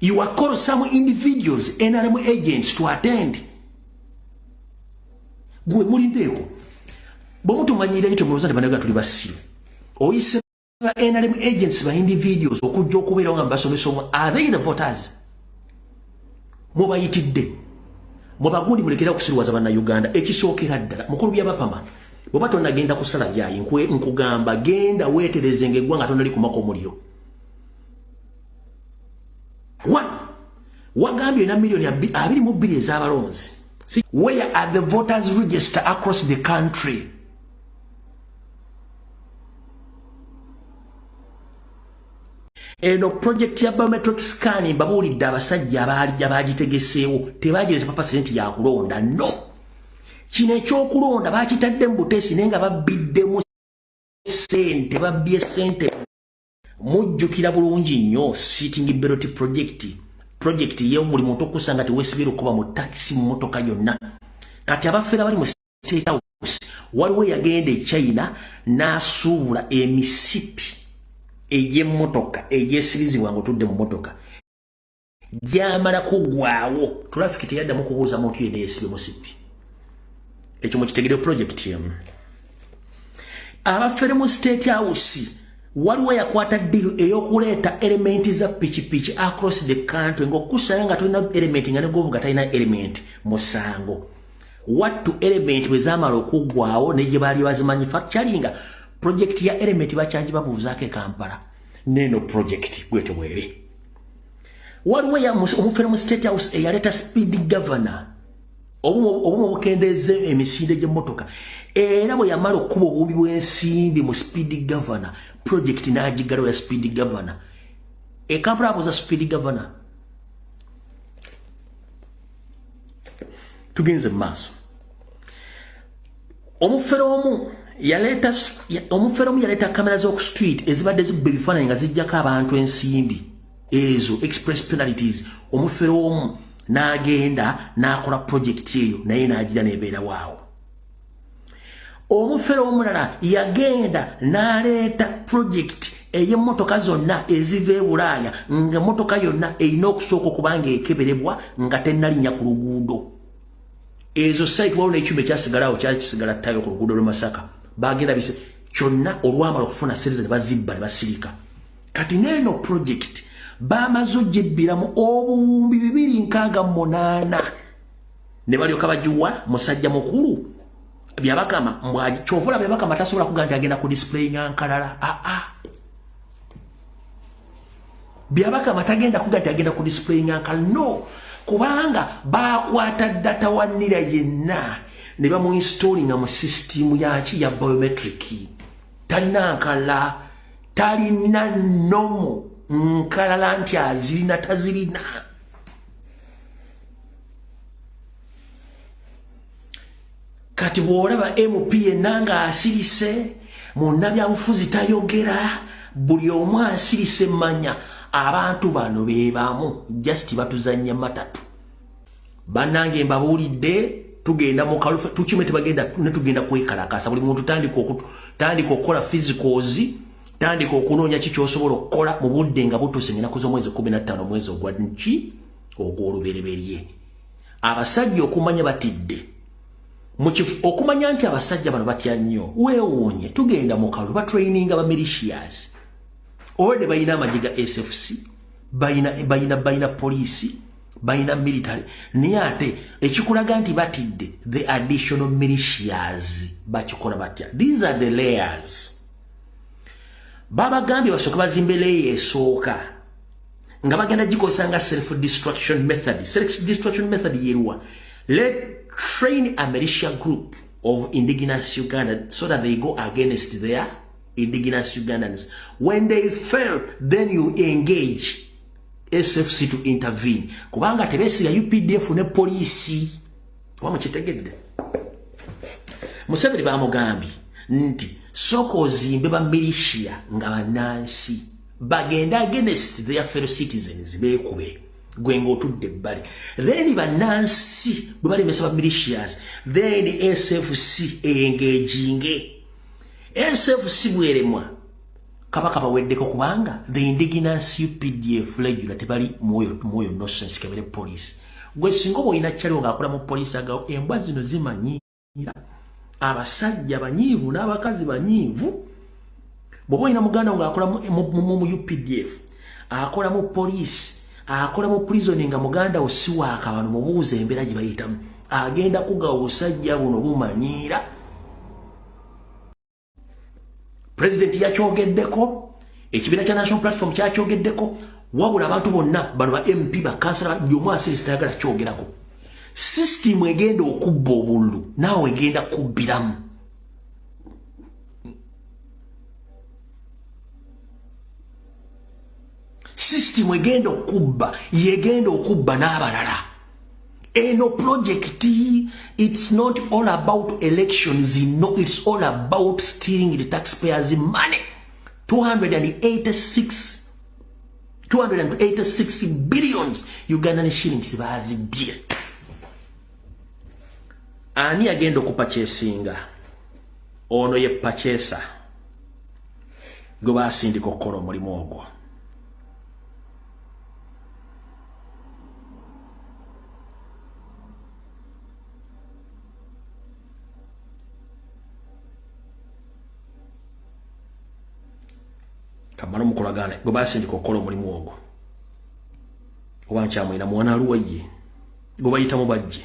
You are called some individuals, NRM agents to attend. Gwe muli ndeko. Bomu tumanyira yito mwoza de banaga tuli basiru. Oyise ba NRM agents ba individuals okujja okubeera nga basomesa omu. Are they the voters? Mwe bayitidde. Mwe bagundi mulekera kusiruwaza bana Uganda. Ekisookera ddala. Mukulu bya bapama. Boba tonna genda kusala byayi. Nkwe nkugamba genda wetereze ngegwanga tonna likumako muliro. wano wagambye na milioni abiri mu bbiri ez'abalonzi where are the voters register across the country eno project ya biometric scan mbabuulidde abasajja abaali abaagitegeseewo tebaagireta papa sente yakulonda no kino ekyokulonda baakitadde mu buteesi naye nga babbiddemu sente babbye sente mujjukira bulungi nnyo sitting belot project project yewo buli muntu okusa nga tewesibira okuba mu taxi mmotoka yonna kati abafera bali mu state house waliwo yagenda e china n'asuubula emisipi egy'emmotoka egyesirizibwa nga otudde mu mmotoka gyamala kugwawo traffic teyaddamu kubuuza muntu yena yesibe musippi ekyo mukitegere project emu abafere mu state house waliwo yakwata ddiru ey'okuleeta elementi za pikipiki across the country ngaokukusanga nga tolina elementi nga negovuga talina elementi musango wattu elementi bwe zamala okuggwawo ne gye baali bazimanyi fakcali nga projekiti ya elementi bakyangi babuuzaako e kampala neeno projekiti bwetebwere waliwo omufere mu state house eyaleeta speed governor obumu obukendeeza emisinde gy'emmotoka era bwe yamala okukuba obubi bw'ensimbi mu speed governor project n'agiggalawo ya speed governor ekampala abuuza speed governor tugenze mu maaso omufere omu yaleeta omufere omu yaleeta kamera z'oku street ezibadde zibba ebifaananyi nga zijjako abantu ensimbi ezo express penalties omufere omu n'agenda n'akola projekiti eyo naye n'agira nebeera waawo omufere omulala yagenda n'aleeta projekiti ey'emmotoka zonna eziva e bulaaya nga mmotoka yonna erina okusooka okuba nga ekeberebwa nga tennalinnya ku luguudo ezo site waliwo nekyuma ekyasigalawo kyali kisigala tayo ku luguudo lwemasaka bagenda bise kyonna olwamala okufuna sente ne bazibba ne basirika kati neeno project bamaze ogibbiramu obuwumbi bibiri nkaaga munaana ne balyoka bagiwa musajja mukulu byabakama mbwaji kyovola byabakama tasobola kuga nti agenda ku display nga nkalala aa ah, ah. Byabaka batagenda kugati agenda ku display nyanka no kubanga bakwata data wa nira yenna ne bamu installing mu system ya ki ya biometric talina nkala talina nomo nkala lanti azirina tazirina kati bwolaba mp yenna nga asirise munna byabufuzi tayogera buli omu asirise manya abantu bano bebamu just batuzanya matatu banange mbabuulidde tugenda mukalufe tukime tebagenda netugenda kwekalakasa buli muntu tandika okutu tandika okukola physicals tandika okunoonya ki kyosobola okukola mu budde nga butuuse ngenaku z'omwezi kumi na ttaano omwezi ogwa nki ogw'olubereberye abasajja okumanya batidde mukifu okumanya nti abasajja bano batya nnyo weewuunye tugenda mu kalulu batraininga ba militias ode balina amagye ga sfc balina balina poliisi balina military naye ate ekikulaga nti batidde the additional militias bakikola batya these are the layers babagambye basooke bazimbe leeya esooka nga bagenda gikozesa nga self destruction method self destruction method yeruwa let train a militia group of indigenous uganda so that they go against their indigenous ugandans when they fail then you engage sfc to intervene kubanga tebesiga updf ne poliisi oba mukitegedde museveni bamugambye nti sooka ozimbe bamilisia nga banansi bagende against their fellow citizens beekube gwe ng'otudde ebbali then bannansi bwe balemesa ba militias then sfc eyengeejinge sfc bweremwa kabaka baweddeko kubanga the indigenous updf legula tebali mwoyo mwoyo nosense kebere police gwe singa oba olina kyaliwo ng'akola mu police agawo embwa zino zimanyi abasajja banyiivu n'abakazi banyiivu bwoba olina muganda wo ng'akola mu updf akola mu poliisi akola mu prisoni nga muganda wo si waaka bano mubuuza embeera gye bayitamu agenda kugawa obusajja buno bumanyiira president yakyogeddeko ekibiina kya national platform kyakyogeddeko wabula abantu bonna bano ba mp bakansala buli omu asirisi tayagala kyogerako sisitimu egenda okubba obululu naawe egenda kubbiramu sisitimu egenda okubba yegenda okubba n'abalala eno project it's not all about elections no it's all about stealing the taxpayers money 286 286 billions ugandan shillings bazibye ani agenda okupa kyesinga ono ye pachesa gwe basindika okukola omulimu ogwo kamala omukolagana gwe basindika okukola omulimu ogwo oba nkyamwina mwana aluwa ye gwe bayitamu bajje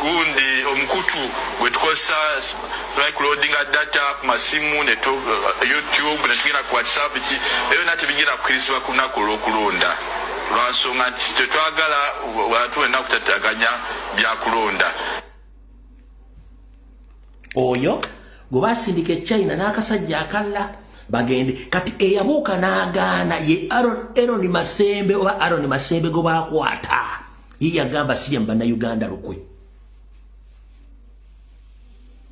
gundi omukutu gwetukozesa tulai kulodinga data ku masimu ne eh, youtube ne tugenda ku whatsapp ki ebyo na tebigenda kukirizibwa ku lunaku olw'okulonda lwansonga nti tetwagala bantu wenna kutataganya byakulonda oyo gwe basindika echina n'akasajja akalla bagende kati eyabuuka n'agaana ye aron masembe oba aron masembe gwe bakwata yeyagamba sirya mu bannayuganda lukwe